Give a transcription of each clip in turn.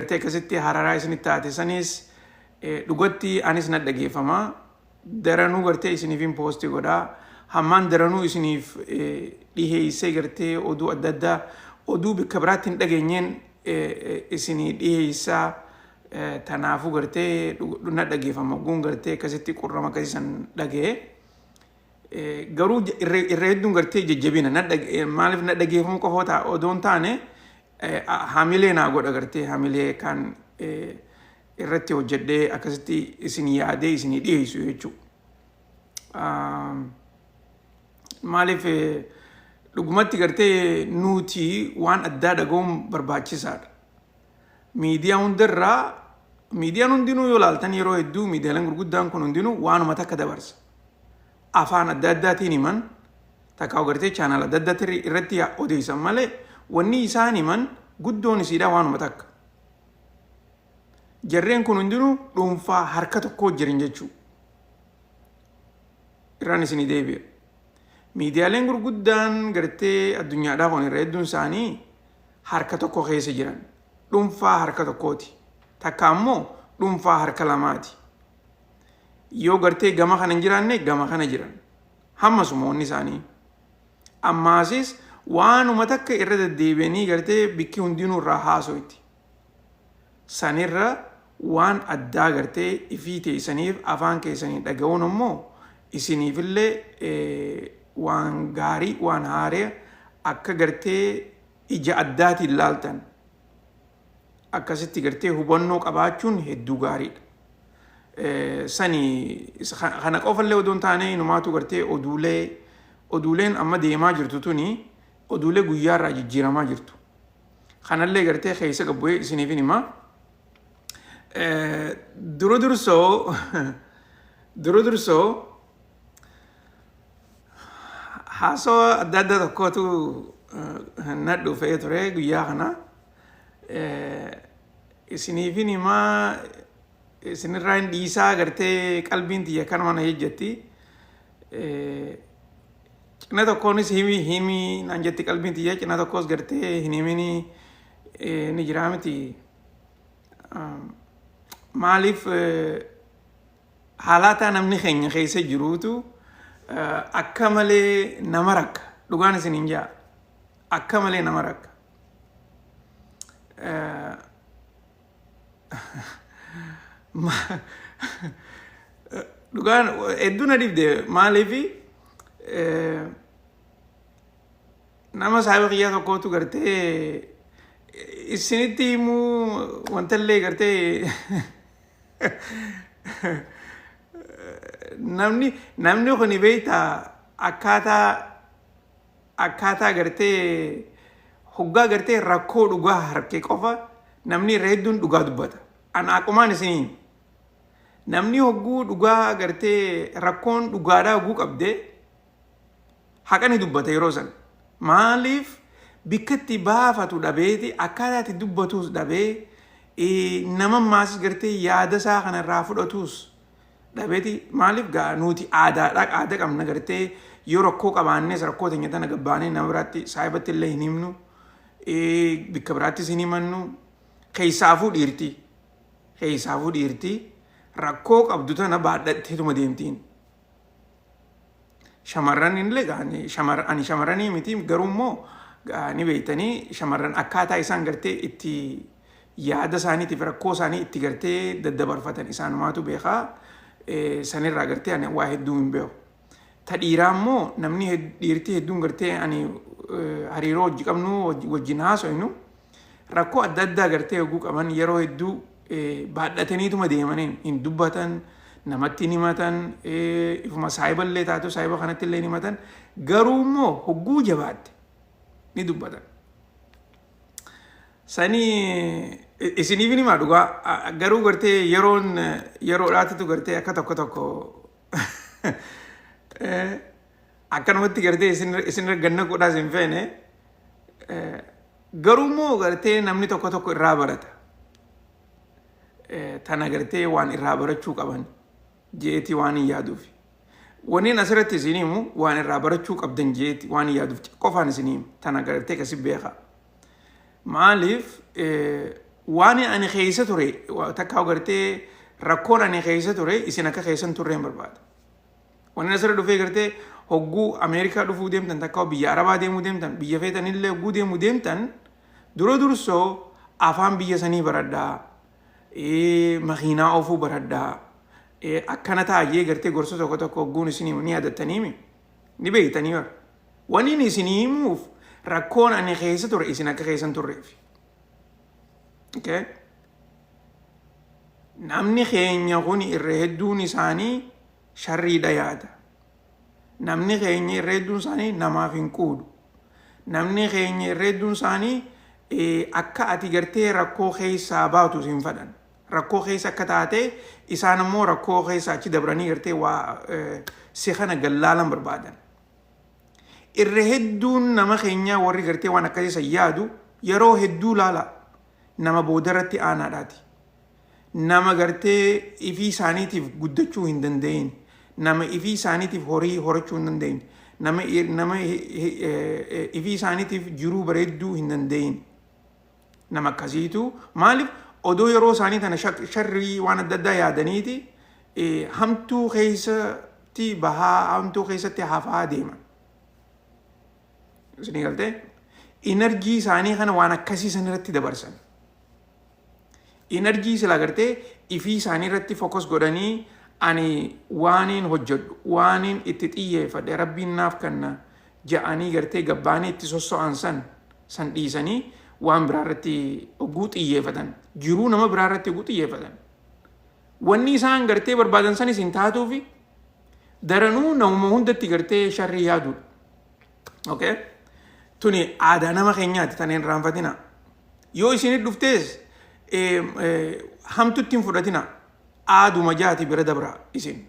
Ati akkasitti hararaa isinitti taate sanis eh, dhugatti anis na dhageeffama. Daranuu gartee isiniifin poosti godha. Hammaan daranuu isiniif eh, dhiheessee gartee oduu adda addaa oduu bakka biraatti hin dhageenyeen eh, eh, isinii dhiheessaa. Eh, Tanaafuu gartee dhug- na dhageeffama. Guun gartee akkasitti qurrama akkasii san dhaga'e. Eh, garuu j- irra irra hedduun gartee jajjabina na dhag- eh, maaliif na dhageeffamuu qofa ta'a odoo hin taane Eh, a- hamilee naa godha gartee hamilee kan eh, irratti hojjedhee akkasitti isin yaadee isin dhiyeessu jechuudha. Um, maaliif eh, dhugumatti gartee nuti waan addaa dhaga'uun barbaachisaadha. Miidiyaa hundarraa miidiyaan hundinuu yoo laaltan yeroo hedduu miidiyaaleen gurguddaan kun hundinuu waanuma takka dabarsa. afaan adda addaatiin himan takkaa gartee chaanaal adda addaatti irratti odeessan malee wanni isaan himan guddoon isiidhaa waanuma takka. Jarreen kun hundinuu dhuunfaa harka tokkoo jiran jechuu. Irraan isinii deebi'a. Miidiyaaleen gurguddaan gartee addunyaadhaa kun irra hedduun isaanii harka tokko keessa jiran. Dhuunfaa harka tokkooti. Takka ammoo dhuunfaa harka lamaati. yoo gartee gama kana hin jiraanne gama kana jiran hamma sumoonni isaanii ammaasis waanuma takka irra deddeebi'anii gartee bikki hundinuu irraa haasoyti sanirra waan addaa gartee ifii teessaniif afaan keessanii dhaga'uun immoo isiniifillee waan gaarii waan haaree akka gartee ija addaatiin laaltan akkasitti gartee hubannoo qabaachuun hedduu gaariidha. Sani kana qofallee odoo hin taane inumaatu gartee oduulee oduuleen amma deemaa jirtu tuni oduulee guyyaarraa jijjiiramaa jirtu. Kanallee gartee keessa gabbu'ee isiniif hin himaa. Dura dursoo dura dursoo haasawaa adda addaa tokkootu na dhufee ture guyyaa kanaa. isiniifin himaa isinirraa hin dhiisaa agartee qalbiin tiyya kanuma na hejjetti cina tokkoonis himi himi naan jetti qalbiin tiyya cina tokkos gartee hin himini ni jiraa miti maaliif haalaataa namni keenya keessa jiruutu akka malee nama rakka dhugaan isin hin jaa akka malee nama rakka Dhugaan hedduu na dhibde maaliif nama saayiba kiyyaa tokkootu gartee isinitti himuu wantallee gartee namni namni kun beektaa akkaataa akkaataa gartee hoggaa gartee rakkoo dhugaa harke qofa namni irra hedduun dhugaa dubbata. An aqumaan isin hima. Namni hogguu dhugaa gartee rakkoon dhugaadhaa hogguu qabde haqa ni dubbata yeroo san. Maaliif bikka itti baafatu dhabeeti akkaataa itti dubbatuus dhabee nama maas gartee yaada isaa kanarraa fudhatuus dhabeti maalif gaa nuuti aadaadha aada qabna gartee yoo rakkoo qabaannees rakkoo teenya tana gabbaanee nama biraatti saahibatti illee hin himnu bikka biraattis hin himannu keessaafuu dhiirti keessaafuu dhiirti rakkoo qabdu tana baadhatteetuma deemtiin Shamarran illee ani shamar- ani shamarranii miti garuu immoo ah, ni beektanii shamarran akkaataa isaan gartee itti yaada isaaniitiif rakkoo isaanii itti gartee daddabarfatan isaanumaatu beekaa Eh, sanirraa gartee ani waa hedduu hin beeku. Ta dhiiraa immoo namni hed- dhiirtii hedduun gartee ani eh, hariiroo hojii qabnu wajji- wajjin haasofnu rakkoo adda addaa gartee yogguu qaban yeroo hedduu baadhataniituma deemaniin hin dubbatan namatti hin himatan ifuma saayiballee taatu saayiba kanatti illee hin himatan garuu immoo hogguu jabaatte ni dubbatan. Sanii isiniif hin himaa dhugaa garuu gartee yeroon yeroodhaatitu gartee akka tokko tokko akkanumatti gartee isin isinirra ganna godhaa isin feene eh, garuu immoo gartee namni tokko tokko irraa barata Eh, tana gartee waan irraa barachuu qaban jeeti waan hin yaaduuf waniin asirratti isin himu waan irraa barachuu qabdan jeeti waan hin yaaduuf qofaan isin himu tana gartee kasi beekaa maaliif eh, waan ani keessa ture wa- takka gartee rakkoon ani keessa ture isin akka keessan turre hin barbaada Wanni asirra dhufee gartee hogguu Ameerikaa dhufuu deemtan takka biyya Arabaa deemuu deemtan biyya feetan illee hogguu deemuu deemtan dura dursoo afaan biyya sanii baradhaa makiinaa oofuu baradhaa akkana taa'ee gartee gorsa tokko tokko hogguun isinii ni yaadattaniimi ni beektanii bara. Waniin isinii himuuf rakkoon ani keessa ture isin akka keessan turreef. Okay? Namni keenya kun irra hedduun isaanii sharriidha yaada. Namni keenya irra hedduun isaanii namaaf hin quudu. Namni keenya irra hedduun isaanii akka ati gartee rakkoo keessaa baatu siin fedhan. Rakkoo keessa akka taate isaan ammoo rakkoo keessa achi dabranii gartee waa si kana gallaalan barbaadan. Irra hedduun nama keenyaa warri gartee waan akkasii san yaadu yeroo hedduu laala nama boodarratti aanaadhaati. nama gartee ifii isaaniitiif guddachuu hin danda'in nama ifii isaaniitiif horii horachuu hin danda'in nama nama ifii isaaniitiif jiruu bareedduu hin danda'in nama akkasiitu maaliif odoo yeroo isaanii tana sharrii waan adda addaa yaadaniiti hamtuu keessatti bahaa hamtuu keessatti hafaa deeman. Isinii galtee? Inarjii isaanii kana waan akkasii san irratti dabarsan. Inarjii sila gartee ifii isaanii irratti fokos godhanii ani waaniin hojjedhu waaniin itti xiyyeeffadhe rabbiin naaf kanna ja'anii gartee gabbaanii itti sosso'an san san dhiisanii waan biraa irratti oguu xiyyeeffatan jiruu nama biraa irratti oguu xiyyeeffatan wanni isaan gartee barbaadan sanis hin taatuufi daranuu namuma hundatti gartee sharrii yaaduudha. Okay? Tuni aadaa nama keenyaati tan hin raanfatina. Yoo isin dhuftees eh, eh, hamtutti hin fudhatina. Aaduma jaati bira dabra isin.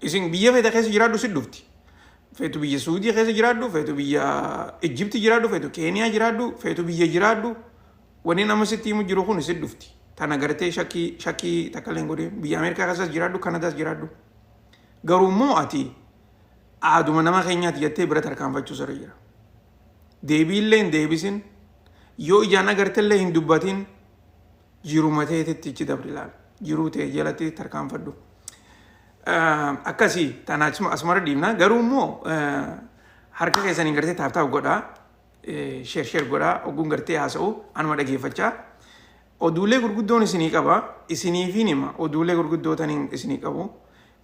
Isin biyya feeta keessa jiraadhu si dhufti. Feetu biyya Suudii keessa jiraadhu, feetu biyya Ijjibti jiraadhu, feetu Keeniyaa jiraadhu, feetu biyya jiraadhu. Wanni nama sitti himu jiru kun si dhufti. Tana gartee shakkii shakkii takka illee hin godhin. Biyya Ameerikaa keessas jiraadhu, Kanadaas jiraadhu. Garuu immoo ati aaduma nama keenyaati jettee bira tarkaanfachuu sirri jira. Deebiillee hin deebisin yoo ijaan agartellee hin dubbatin jiruma teetitti ichi dabri ilaal. Jiruu tee jalatti tarkaanfadhu. Akkasii tana asumara dhiibna garuu immoo harka keessaniin gartee taaftaaf godhaa sheer sheer godhaa ogguun gartee haasa'u anuma dhageeffachaa. Oduulee gurguddoon isinii qaba isiniifiin hima oduulee gurguddoo taniin isinii qabu.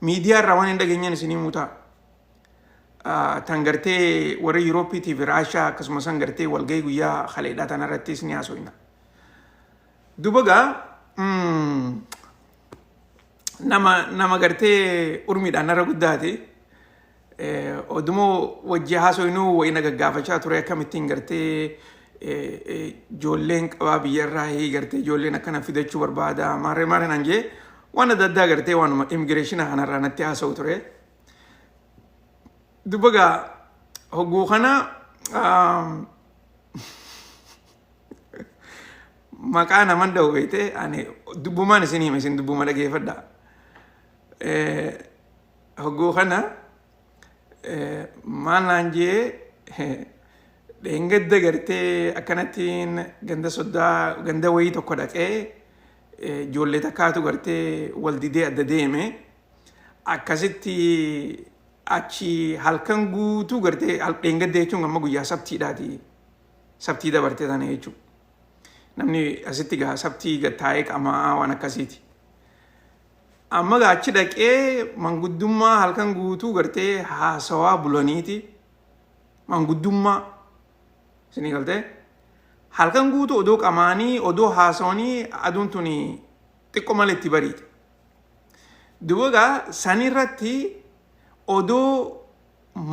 miidiyaa irraa waan hin dhageenyeen isin himuu ta'a. Ah, Tan gartee warra Yuuroopiitii fi Raashaa akkasumas san gartee walgahii guyyaa haleedhaa tana irrattis ni haasofna. Duba gaa mm, nama nama gartee urmiidhaan narra guddaate Odumoo wajjii haasoynuu wayii na gaggaafachaa ture akkamittiin gartee ijoolleen qabaa biyyarraa hii gartee ijoolleen akkana fidachuu barbaada maarree maarree naan jee waan adda addaa gartee waanuma immigireeshina kanarraa natti haasa'u ture. Dubba gaa hogguu kana maqaa naman dha'u beekte ani dubbumaan isin hima isin dubbuma dhageeffadha. Hogguu kana maal naan jee dheengadda gartee akkanattiin ganda soddaa ganda wayii tokko dhaqee ijoollee takkaatu gartee wal didee adda deeme akkasitti achi halkan guutuu gartee dheengadda jechuun amma guyyaa sabtiidhaati sabtii dabartee sana jechuudha. Namni asitti gaa sabtii taa'ee qamaa waan akkasiiti. Amma gaa achi dhaqee manguddummaa halkan guutuu gartee haasawaa bulaniiti manguddummaa isinii galtee halkan guutuu odoo qamaanii odoo haasawanii aduun tuni xiqqo malee itti bariite. Duuba gaa san irratti odoo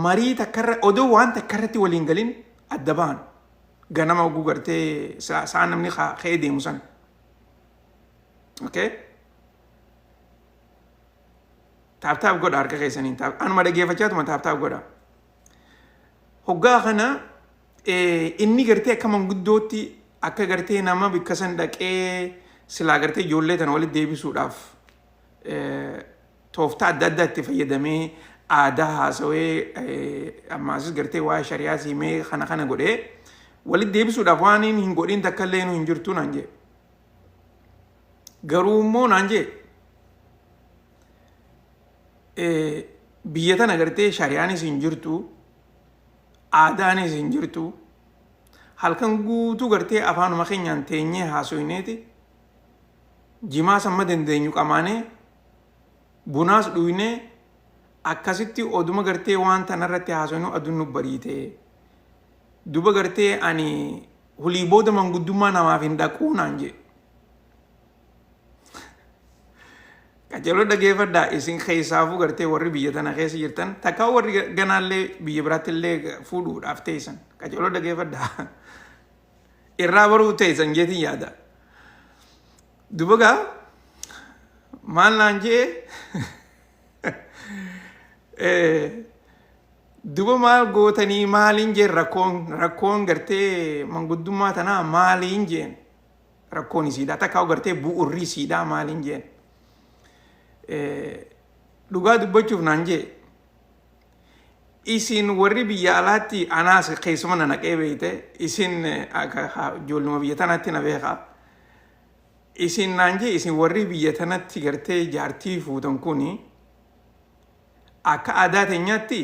marii takka irra odoo waan takka irratti waliin galin adda bahan ganama oguu gartee saa saa namni haa ka'ee deemu san. okay taap taap godha harka keessaniin taap anuma dhageeffachaa tuma taap taap godha hoggaa kana inni gartee akka manguddootti akka gartee nama bikka san dhaqee silaa gartee ijoollee tana walitti deebisuudhaaf tooftaa adda addaa itti fayyadamee aadaa haasawee ammaasis gartee waa'ee shari'aa siimee kana kana godhee walitti deebisuudhaaf waan hin godhin takka illee hin jirtu naan jedhe Garuu immoo naan jee biyya tana gartee shariyaanis hin jirtu aadaanis hin jirtu halkan guutuu gartee afaanuma keenyaan teenyee haasoyneeti jimaa samma dandeenyu qamaanee bunaas dhuynee akkasitti oduma gartee waan tanarratti haasoynu aduun nu bariite duba gartee ani Hulii booda manguddummaa namaaf hin dhaquu naan jee. Qajeeloo dhageeffadhaa isin keessaafuu gartee warri biyya tana keessa jirtan takkaa warri ganaallee biyya biraatti illee fuudhuudhaaf teessan qajeeloo dhageeffadhaa irraa baruu teessan jeetiin yaada. Dubagaa maal naan jee Duba maal gootanii maaliin jeen rakkoon rakkoon gartee manguddummaa tanaa maaliin jeen rakkoon isiidhaa takkaa gartee bu'urri isiidhaa maaliin jeen dhugaa dubbachuuf naan jee isin warri biyya alaatti anaas keessuma na naqee beeyte isin ijoolluma biyya tanaatti na beekaa isin naan jee isin warri biyya tanatti gartee jaartii fuutan kuni Akka aadaa teenyaatti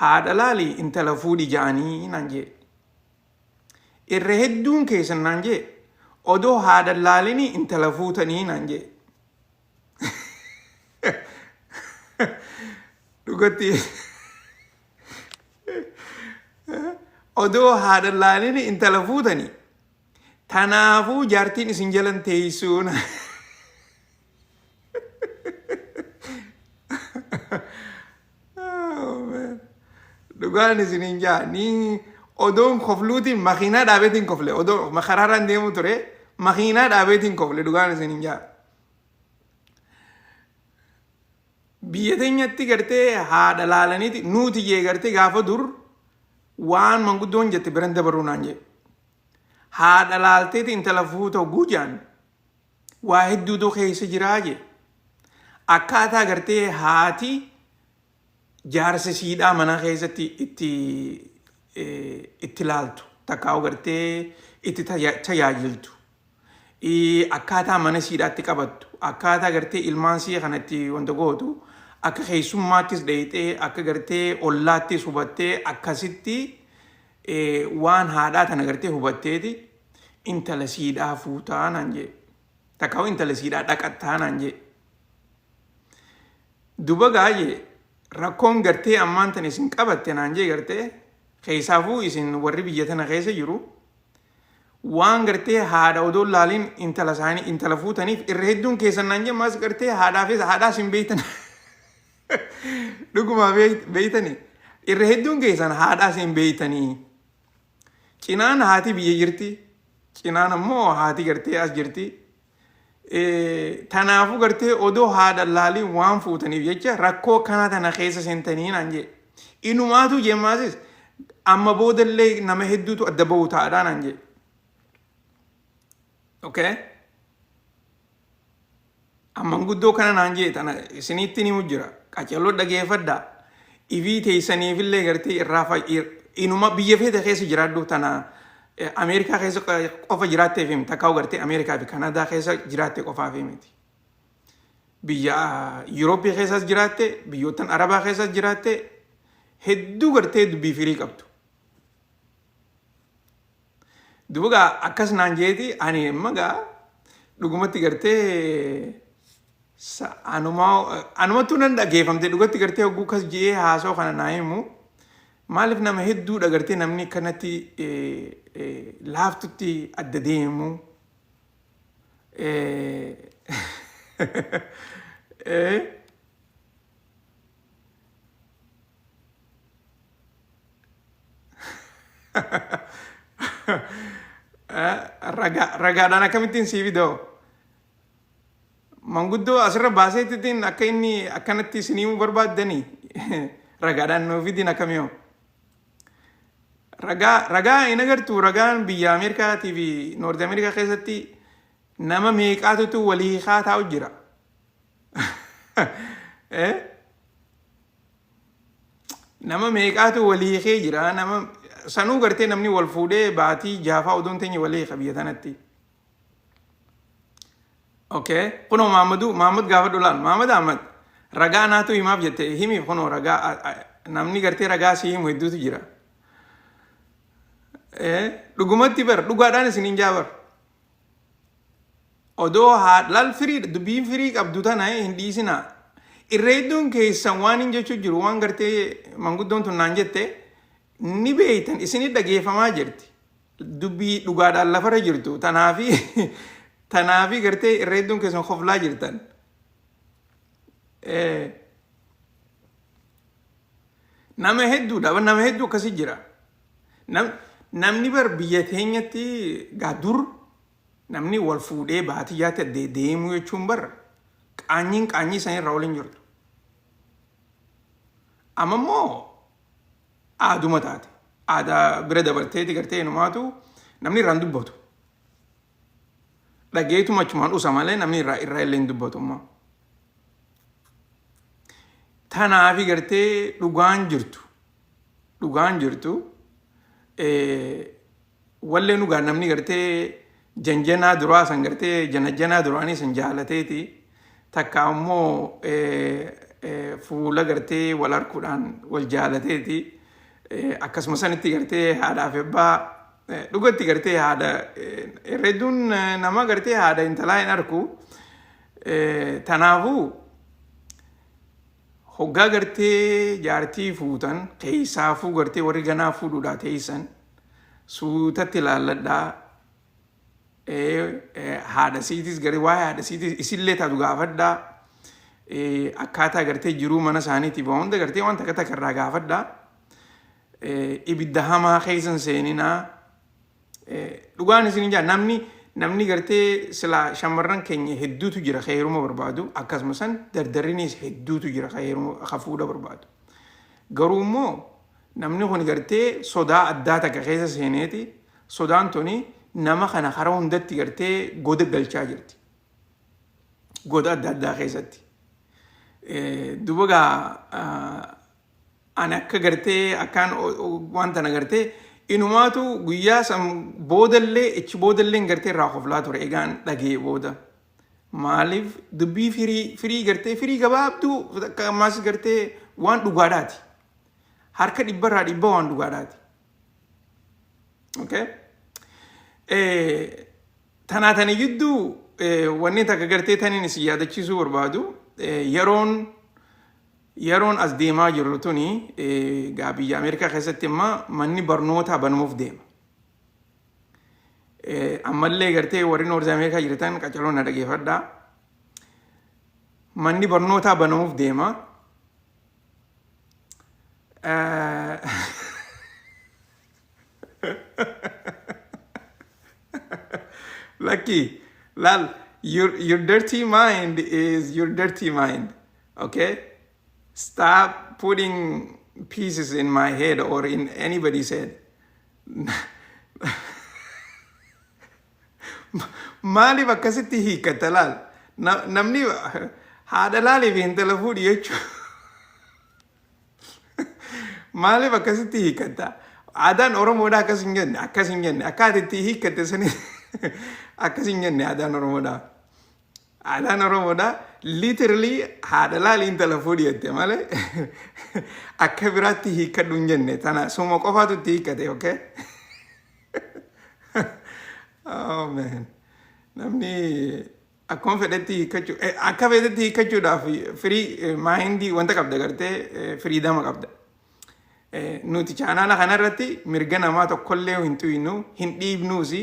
haadha laali intala fuudhi ja'anii naan jee. Irra hedduun keessan naan jee odoo haadha laalini intala fuutanii naan jee. Dhugatti odoo haadha laalini intala fuutanii tanaafuu jaartiin isin jalan teessuun Dhugaan isiniin jaa ni odoon kofluutiin makiinaa dhaabeetiin kofle odoo makaraaraan deemu ture makiinaa dhaabeetiin kofle dhugaan isiniin jaa. Biyya teenyatti gartee haadha laalaniiti nuuti jee gartee gaafa dur waan manguddoon jette biran dabaruu naan jee. Haadha laalteeti intala fuuta oguu jaan waa hedduutu keessa jiraa jee akkaataa gartee haati jaarsa siidhaa manaa keessatti itti eh, itti laaltu takkaa gartee itti taya- tajaajiltu Eh, akkaataa mana siidhaatti qabattu akkaataa gartee ilmaan sii kanatti wanta gootu akka keessummaattis dheeyxee akka gartee ollaattis hubattee akkasitti eh, waan haadhaa tana gartee hubatteeti intala siidhaa fuutaa naan jee takkaawuu intala siidhaa dhaqattaa naan jee duba gaayee rakkoon gartee ammaan tan isin qabatte naan jee gartee keessaafuu isin warri biyya tana keessa jiru waan gartee haadha odoo laaliin intala isaanii intala fuutaniif irra hedduun keessan naan jee maas gartee haadhaafis haadhaas hin beeytan dhuguma beeytani irra hedduun keessan haadhaas hin beeytanii Cinaan haati biyya jirti. Cinaan ammoo haati gartee as jirti. Tanaafuu gartee odoo haadha laaliin waan fuutaniif jecha rakkoo kanaa tana keessa seentanii naan jee. Inumaatuu jeemmaasis amma boodallee nama hedduutu adda bahu taa'adhaa naan jee. Okay. Amman guddoo kana naan jee tana isiniitti ni jira. Qacalloo dhageeffadha. Ifii teessaniifillee gartee irraa fa'i inuma biyya feete keessa jiraadhu tana eh, Ameerikaa keessa qofa jiraatteef himti. Takkaa gartee Ameerikaa fi Kanaadaa keessa jiraatte qofaaf himti. Biyya Yurooppii keessas jiraatte, biyyoottan Arabaa keessas jiraatte hedduu gartee dubbii firii qabdu. Duuba gaa akkas naan jeeti ani amma gaa dhugumatti gartee sa- anuma anumattuu nan dhageeffamte dhugatti gartee hogguu kas je'ee haasoo kana naa himu maaliif nama hedduudha gartee namni kanatti eh, eh, laaftutti adda deemu eh, eh, Ragaa ragaadhaan akkamittiin sii fidoo? Manguddoo asirra baasee ittiin akka inni akkanatti isin himuu barbaaddanii ragaadhaan nuu fidiin akkamiyoo? Ragaa ragaa hin agartu ragaan biyya Ameerikaatii fi Noorti Ameerikaa keessatti nama meeqaatutu walii hiikaa taa'u jira. Eh? nama meeqaatu walii hiikee jira nama sanuu gartee namni wal fuudhee baatii jaafaa odoon teenye walii hiika biyya tanatti okay kunoo maammadu maammad gaafa dhulaan maammad ahmad ragaa naatu himaaf jette himi kunoo ragaa a- a- namni gartee ragaa si himu hedduutu jira Eh, dhugumatti bar dhugaadhaan isiniin jaa bar Odoo haa lal firiidha dubbiin firii qabdu tana hin dhiisina. Irra hedduun keessan waan hin jechuu jiru waan gartee manguddoon tun naan jette ni beeytan isinii dhageeffamaa jirti. Dubbii dhugaadhaan lafarra jirtu tanaafi tanaafi gartee irra hedduun keessan koflaa jirtan. Eh, Nama hedduudha nama hedduu akkasii jira. Namni bar biyya teenyatti gaa dur namni wal fuudhee baatiyyaatti addee deemuu jechuun bar qaanyiin qaanyii sanii irraa waliin jirtu. Amma immoo aaduma taate. Aadaa bira dabarteeti gartee numaatu namni irraan dubbatu. Dhageetuma achumaan usa malee namni irraa irraa illee hin dubbatu immoo. Tanaafi gartee dhugaan jirtu. dhugaan jirtu wallee dhugaa namni gartee janjanaa duraa san gartee janajjanaa duraanii san jaalateeti takka ammoo fuula gartee wal arguudhaan wal jaalateeti akkasuma sanitti gartee haadhaaf ebbaa dhugatti gartee haadha herreedduun nama gartee haadha intalaa hin arku tanaafuu Hoggaa gartee jaartii fuutan keessaafuu gartee warri ganaa fuudhuudhaa teessan suutatti laalladhaa haadha siitis garee waa'ee haadha siitis isillee taatu gaafadhaa akkaataa gartee jiruu mana isaaniitiif waa hunda gartee waan takka takka irraa gaafadhaa ibidda hamaa keessan seeninaa Dhugaan isin jaa namni namni gartee silaa shamarran keenya hedduutu jira ka heeruma barbaadu akkasuma san dardarrinis hedduutu jira ka heeruma ka fuudha barbaadu. Garuu immoo namni kun gartee sodaa addaa takka keessa seeneeti sodaan tuni nama kana karaa hundatti gartee goda galchaa jirti. Goda adda addaa keessatti. Duba gaa Ani akka gartee akkaan waan tana gartee inumaatu guyyaa san boodallee ichi boodalleen gartee irraa koflaa ture egaan dhagee booda. Maaliif dubbii firii firii gartee firii gabaabduu akka ammaas gartee waan dhugaadhaati. Harka dhibbarraa dhibba waan dhugaadhaati. Okay? Eh, tanaa tana jidduu eh, wanni takka gartee taniin isin yaadachiisuu barbaadu eh, yeroon Yeroon as deemaa jirru tuni egaa biyya Ameerikaa keessatti amma manni barnootaa banamuuf deema. Ammallee gartee warri Noorz Ameerikaa jirtan qacaroo na dhageeffadhaa. Manni barnootaa banamuuf deema. Lucky, Lal, your, your dirty mind is your dirty mind. Okay? Stop putting pieces in my head or in anybody's head. Maaliif akkasitti hiikkata laal? Na- Namni haadha laaliif intala fuudhi jechuudha. Maaliif akkasitti hiikkatta? Aadaan Oromoodhaa akkas hin jenne, akkas hin jenne. Akka ati itti hiikkatte sani akkas hin jenne aadaan Oromoodhaa. Aadaan Oromoodhaa literally haadha laali intala fuudhi jette malee akka biraatti hiikkadhu hin jenne. Tana suma qofaatu itti hiikkate, okay? Oh man. Namni Akkuma fedhetti hiikkachuu eh, akka fedhetti hiikkachuudhaaf firii maayindii wanta qabda gartee eh, firiidama qabda. Eh, Nuti chaanaala kanarratti mirga namaa tokkollee hin tuynu hin dhiibnuus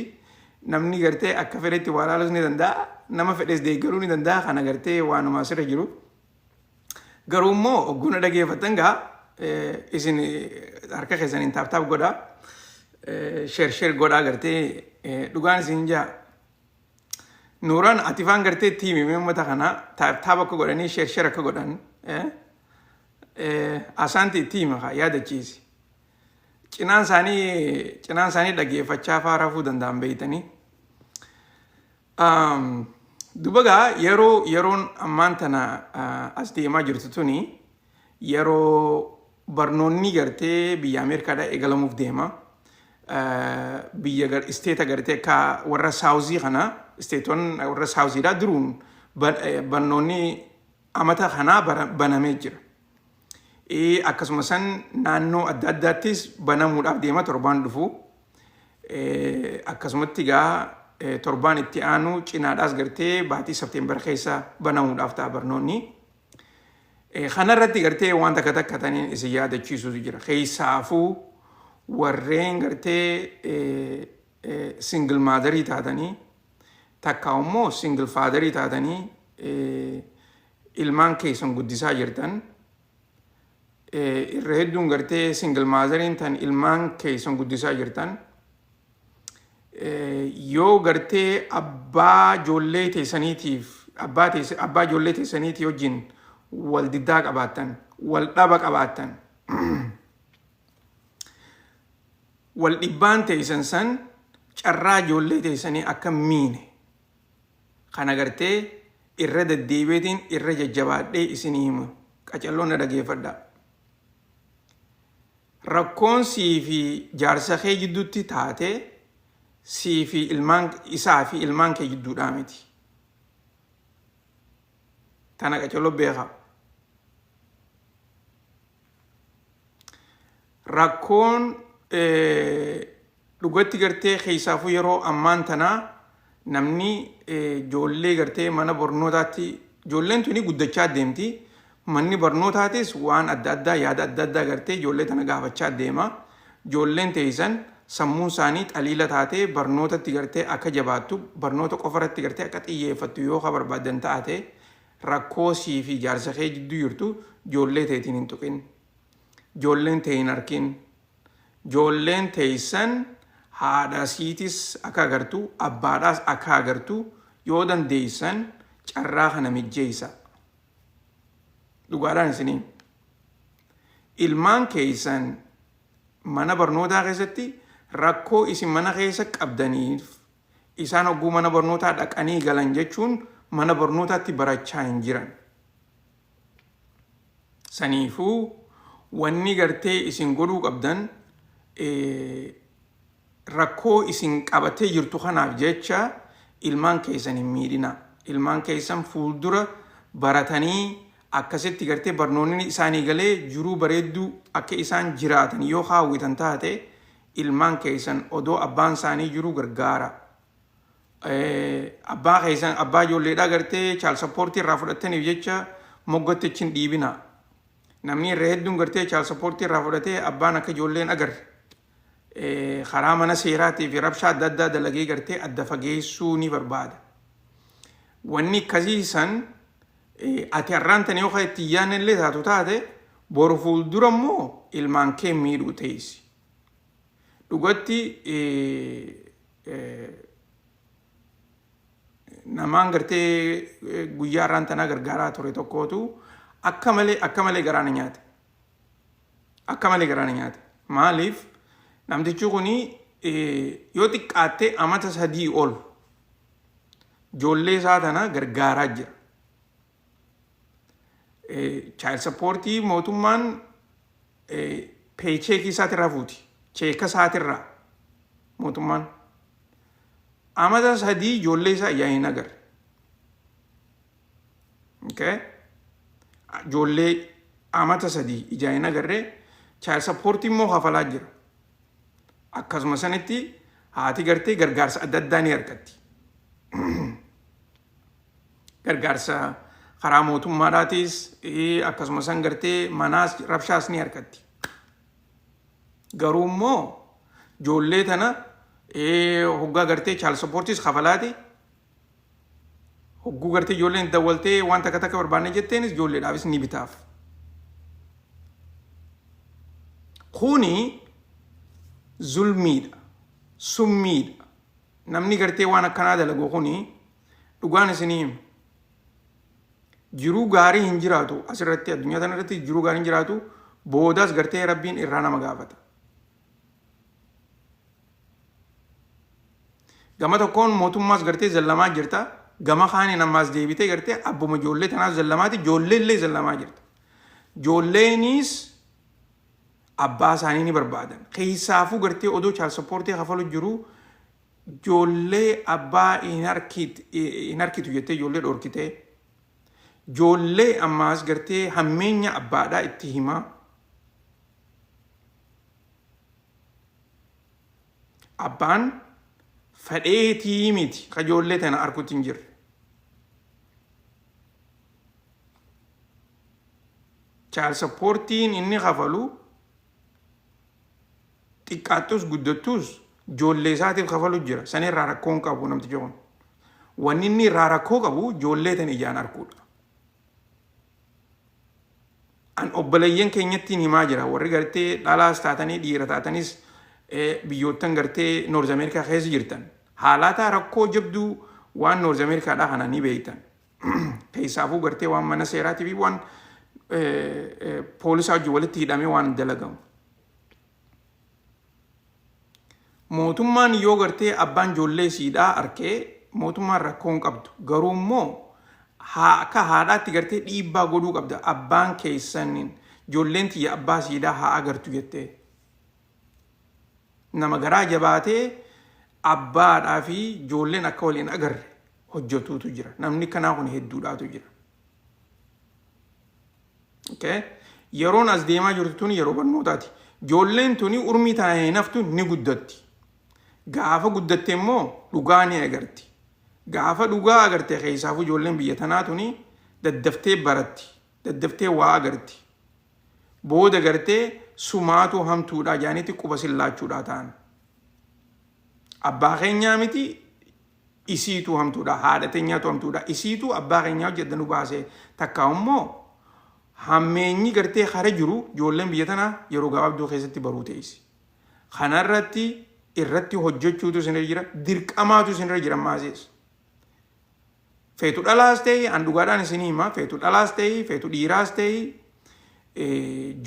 namni gartee akka fedhetti waa ilaaluus ni danda'a nama fedhes deeggaruu ni danda'a kana gartee waanuma asirra jiru. Garuu immoo ogguuna dhageeffattan gaa eh, isin eh, harka keessaniin taaptaap godhaa. eh, Sheer sheer godhaa gartee eh, dhugaan isin jaa Nuuraan ati faan gartee itti himi mee uummata kana taab taab akka godhanii sheer sheer akka godhan eh, eh, asaanti itti hima kaa yaadachiisi. Cinaan isaanii cinaan isaanii dhageeffachaa faa rafuu danda'an beeytanii. Um, dubagaa yeroo yeroon ammaan tana uh, as deemaa jirtu tuni Yeroo barnoonni gartee biyya Ameerikaadhaa eegalamuuf deema. Biyya gar isteeta gartee akka warra saawuzii kana isteetoon warra saawuziidhaa duruun barnoonni amata kanaa banamee jira. Akkasuma san naannoo adda addaattis banamuudhaaf deema torbaan dhufu. Akkasumatti egaa torbaan itti aanu cinaadhaas gartee baatii Septeembar keessa banamuudhaaf ta'a barnoonni. Kana irratti gartee waan takka takka taniin isin yaadachiisuutu jira. Keessaafuu warreen gartee single maadarii taatanii takka immoo single faadarii taatanii ilmaan keessan guddisaa jirtan irra hedduun gartee single maadariin tan ilmaan keessan guddisaa jirtan yoo gartee abbaa ijoollee teessaniitiif abbaa teess- abbaa ijoollee teessaniitii wajjin wal diddaa qabaattan wal dhaba qabaattan wal dhibbaan teessan san carraa ijoollee teessanii akka hin miine kan agartee irra deddeebiitiin irra jajjabaadhee isinii himu qacalloo na dhageeffadhaa Rakkoon sii fi jaarsa kee jidduutti taate sii fi ilmaan isaa fi ilmaan kee jidduudhaa miti. Tana qacello beekaa. Rakkoon Dhugatti gartee keessaafuu yeroo ammaan tanaa namni ijoollee gartee mana barnootaatti ijoolleen tuni guddachaa deemti. Manni barnootaatis waan adda addaa yaada adda addaa gartee ijoollee tana gaafachaa deema. Ijoolleen teeysan sammuun isaanii xaliila taatee barnootatti gartee akka jabaattu barnoota qofa irratti gartee akka xiyyeeffattu yoo ka barbaaddan taate rakkoo sii fi jaarsa kee jidduu jirtu ijoollee teetiin hin tuqin. Ijoolleen tee hin arkin. joolleen teeysan haadha siitis akka agartu abbaadhaas akka agartu yoo dandeeysan carraa kana mijjeeysaa dhugaadhaan isinii ilmaan keeysan mana barnootaa keessatti rakkoo isin mana keessa qabdaniif isaan hogguu mana barnootaa dhaqanii galan jechuun mana barnootaatti barachaa hin jiran. Saniifuu wanni gartee isin godhuu qabdan rakkoo isin qabatee jirtu kanaaf jecha ilmaan keessan hin miidhina. Ilmaan keessan fuuldura baratanii akkasitti gartee barnoonni isaanii galee jiruu bareedduu akka isaan jiraatan yoo haawwitan taate ilmaan keessan odoo abbaan isaanii jiru gargaara. abbaa keessan abbaa ijoolleedhaa gartee chaal sappoortii irraa fudhattaniif jecha moggatti achi hin dhiibina. Namni irra hedduun gartee chaal sappoortii irraa fudhatee abbaan akka ijoolleen agarre karaa mana seeraatii fi rabshaa adda addaa dalagee gartee adda fageessuu ni barbaada. Wanni akkasii san ati har'aan tan yoo itti hin yaadne illee taatu taate boru fuuldura immoo ilmaan kee miidhuu teessi. Dhugatti namaan gartee guyyaa irraan tanaa gargaaraa ture tokkootu akka malee akka malee garaa na nyaate. Akka malee garaa na nyaate. Maaliif namtichi kun yoo xiqqaattee amata sadii ol ijoollee isaa tana gargaaraa jira. Child support mootummaan peecheekii isaatirraa fuuti. Cheeka isaatirraa mootummaan. Amata sadii ijoollee isaa ijaan hin agarre. Okay? Ijoollee amata sadii ijaan hin agarre child support immoo hafalaa jira. Akkasuma sanitti haati gartee gargaarsa adda addaa ni argatti. gargaarsa karaa mootummaadhaatis akkasuma san gartee manaas rabshaas ni argatti. Garuu immoo ijoollee tana hoggaa gartee chaal sappoortiis kafalaati. Hogguu gartee ijoolleen dawwaltee waan takka takka barbaanne jetteenis ijoolleedhaafis ni bitaaf. Kuni zulmiidha, summiidha. Namni gartee waan akkanaa dalagu kuni Dhugaan isinii hima. Jiruu gaarii hin jiraatu asirratti addunyaa tana irratti jiruu gaarii hin jiraatu boodaas gartee rabbiin irraa nama gaafata. Gama tokkoon mootummaas gartee zallamaa jirta. Gama kaaniin ammaas deebitee gartee abbuma ijoollee tanaas zallamaati ijoollee illee zallamaa jirta. Ijoolleeniis abbaa isaanii ni barbaadan. Keessaafuu gartee odoo chaal sappoortii kafalu jiruu Joollee abbaa hin harkiit hin harkitu jettee joollee dhorkitee joollee ammaas gartee hammeenya abbaadhaa itti himaa abbaan fadheetii miti ka joollee tana harkutti hin jirre chaal sappoortiin inni kafalu Xiqqaattuus guddattuus joollee isaatiif kafalu jira. San irraa rakkoo hin qabu namtichi kun. Wanni inni irraa rakkoo qabu joollee tan ijaan arkuudha. An obboleeyyan keenyattiin himaa jira. Warri gartee dhalaas taatanii dhiira taatanis biyyoottan gartee Noorz Ameerikaa keessa jirtan. Haalaataa rakkoo jabduu waan Noorz Ameerikaadhaa kana ni beeytan. Keessaafuu gartee waan mana seeraatii fi waan poolisaa wajjin walitti hidhamee waan dalagamu. Mootummaan yoo gartee abbaan ijoollee siidhaa arkee mootummaan rakkoo hin qabdu. Garuu immoo haa- akka haadhaatti gartee dhiibbaa godhuu qabda. Abbaan keessan ijoolleen tiyya abbaa siidhaa haa agartu jettee. Nama garaa jabaatee abbaadhaa fi ijoolleen akka wal hin agarre hojjetuutu jira. Namni kanaa kun hedduudhaatu jira. Okay. Yeroon as deemaa jirtu tun yeroo barnootaati. Ijoolleen tuni urmii tana hin haftu ni guddatti. Gaafa guddatte immoo dhugaa ni agarti. Gaafa dhugaa agarte keessaafuu ijoolleen biyya tanaa tuni daddaftee baratti. Daddaftee waa agarti. Booda gartee sumaatu hamtuudhaa jaanitti quba sillaachuudhaa ta'an. Abbaa keenyaa miti isiituu hamtuudha haadha tenyaatu hamtuudha isiituu abbaa kenyaa hojii adda nu baasee takkaa ummoo hammeenyi gartee kara jiru joolleen biyya tanaa yeroo gabaabduu keessatti baruu teessi kanarratti irratti hojjechuutu isinirra jira dirqamaatu isinirra jira maasees feetu dhalaas ta'e an dhugaadhaan isin hima feetu dhalaas ta'e feetu dhiiraas ta'e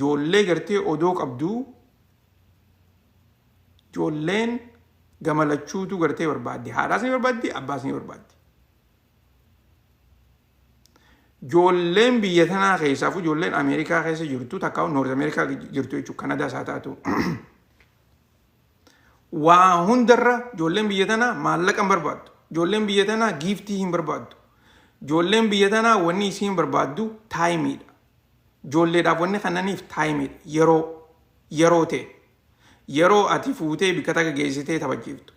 joollee gartee odoo qabduu Ijoolleen gama lachuutu gartee barbaaddi. Haadhaas ni barbaaddi, abbaas ni barbaaddi. Ijoolleen biyya tanaa keessaafuu ijoolleen Ameerikaa keessa jirtu takka Noorz Ameerikaa jirtu jechuudha Kanadaa isaa taatu. Waa hundarra ijoolleen biyya tanaa maallaqa hin barbaaddu. Ijoolleen biyya tanaa giiftii hin barbaaddu. Ijoolleen biyya tanaa wanni isiin barbaaddu taayimiidha. Ijoolleedhaaf wanni kennaniif time dha. Yeroo. Yeroo tee. Yeroo ati fuutee bikka takka geessitee taphachiiftu.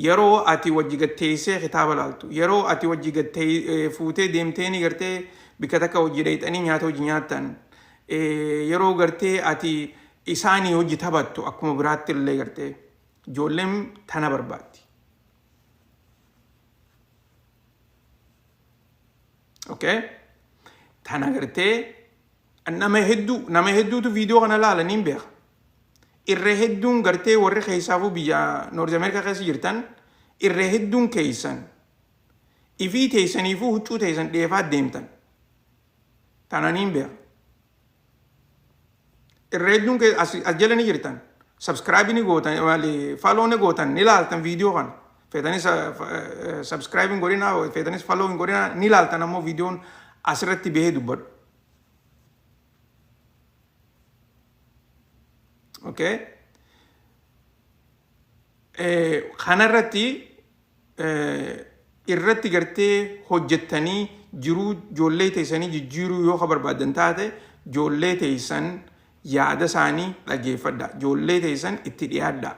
Yeroo ati wajji gad teessee kitaaba laaltu. Yeroo ati wajji gad tee- eh, fuutee deemteeni gartee bikka takka wajji dhayxanii nyaata wajji nyaattan. Eh, Yeroo gartee ati isaanii wajji taphattu akkuma biraatti illee gartee. Ijoolleen tana barbaaddi. Okay? Tan agartee nama hedduu nama hedduutu viidiyoo kana laalaniin beeka. Irra hedduun gartee warri keessaafuu biyya Noorz Ameerikaa keessa jirtan irra hedduun keessan ifii teessaniifuu huccuu teessan dheefaa deemtan. Tananiin beeka. irra hedduun kee as as jala ni jirtan subscribe ni gootan maali follow ni gootan ni laaltan viidiyoo kana feetanis subscribe hin godhina feetanis follow hin godhina ni laaltan ammoo viidiyoon asirratti bahee dubbadhu okay kanarratti irratti gartee hojjettanii jiruu joollee teessanii jijjiiruu yoo ka barbaaddan taate joollee teessan yaada isaanii dhageeffadha joollee teessan itti dhiyaadha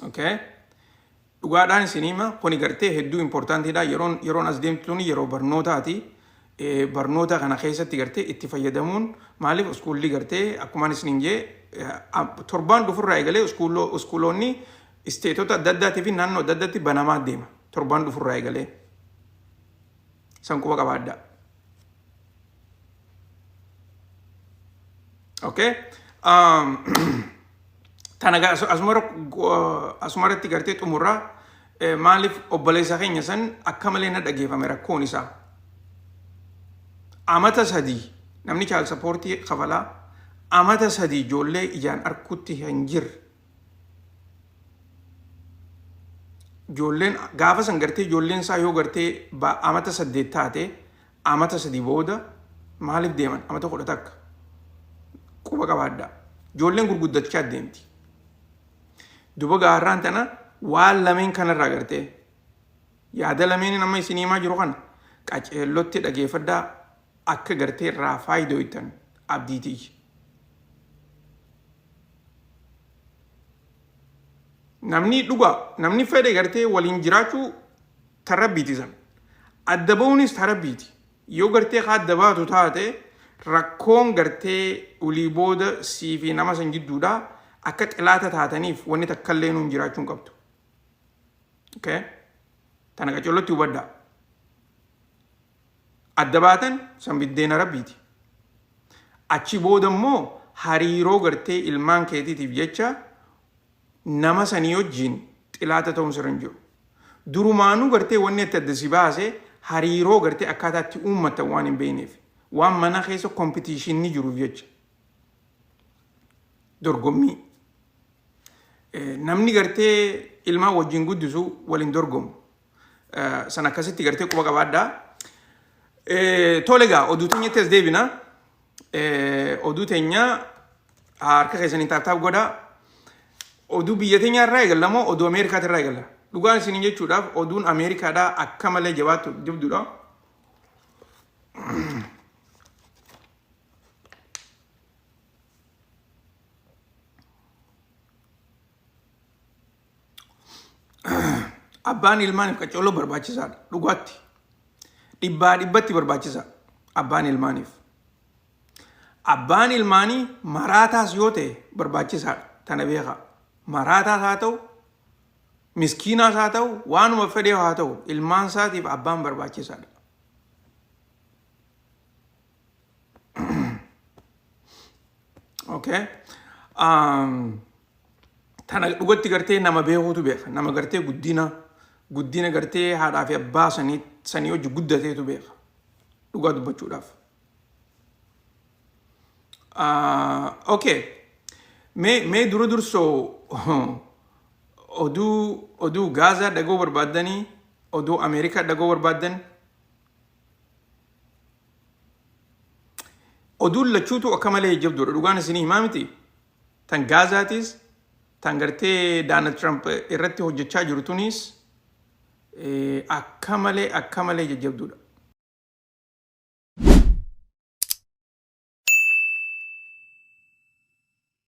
okay Dhugaadhaan isin hima kuni gartee hedduu important dha yeroon yeroon as deemtu tuni yeroo barnootaati barnoota kana keessatti gartee itti fayyadamuun maaliif uskuulli gartee akkumaan isiniin jee torbaan dhufurraa eegalee uskuuloo uskuuloonni isteetota adda addaatii fi naannoo adda addaatti banamaa deema torbaan dhufurraa eegalee san quba qabaadhaa. Okay? Um, tana ga- asu- asumara go- asumarratti gartee xumurraa eh, maaliif obboleessa keenya san akka malee na dhageeffame rakkoon isaa amata sadii namni chaal sappoortii kafalaa amata sadii ijoollee ijaan arkutti hin jirre Ijoolleen gaafa san gartee ijoolleen isaa yoo gartee ba- amata saddeet taate amata sadii booda maaliif deeman amata kudha takka quba qabaadhaa. Ijoolleen gurguddachaa deemti. Duba gaarraan tana waan lameen kanarraa gartee yaada lameen amma isin himaa jiru kana qaceellotti dhageeffadhaa akka gartee irraa faayidooytan abdiitiiyya. Namni dhugaa namni fedhe gartee waliin jiraachuu tan rabbiiti san. Adda ba'uunis tan rabbiiti. Yoo gartee ka adda baatu taate rakkoon gartee ulii booda sii fi nama san jidduudha akka xilaata taataniif wanni takka illee nuun jiraachuu hin qabdu. Okay? Tana qacollotti hubadhaa. adda baatan san biddeena rabbiiti. Achi booda immoo hariiroo gartee ilmaan keetiitiif jecha nama sanii wajjiin xilaata ta'uun sirra hin jiru. Durumaanuu gartee wanni itti adda si baase hariiroo gartee akkaataa itti uummattan waan hin beekneef waan mana keessa kompitiishinni jiruuf jecha dorgommii. Eh, Namni gartee ilmaan wajjin guddisu waliin dorgomu. San akkasitti gartee quba qabaadhaa. Tole egaa oduu teenyatti as deebina. Oduu teenya harka keessaniin taaptaap godhaa. Oduu biyya teenyaa irraa eegalla moo oduu Ameerikaati irraa eegalla? Dhugaan isin jechuudhaaf oduun Ameerikaadhaa akka malee jabaattu jabduudha. Abbaan ilmaaniif qaccolloo barbaachisaadha. Dhugaatti. Dhibbaa dhibbatti barbaachisa. Abbaan ilmaaniif. Abbaan ilmaanii maraataas yoo ta'e barbaachisaadha. Tana beekaa. Maraataas haa ta'u, miskiinaas haa ta'u, waanuma fedhee haa ta'u, ilmaan isaatiif abbaan barbaachisaadha. okay um, tana dhugatti gartee nama beekuutu beeka nama gartee guddina guddina gartee haadhaa fi abbaa sanii sanii hojii guddateetu beeka dhugaa dubbachuudhaaf Ah, okay mee mee dura dursoo oduu oduu gaazaa dhagoo barbaaddanii oduu ameerikaa dhagoo barbaaddan Oduun lachuutu akka malee jabduudha. Dhugaan isinii himaa miti. Tan Gaazaatis, tan gartee Daanald Tiraamp irratti hojjechaa jiru tunis eh, akka malee akka malee jajjabduudha.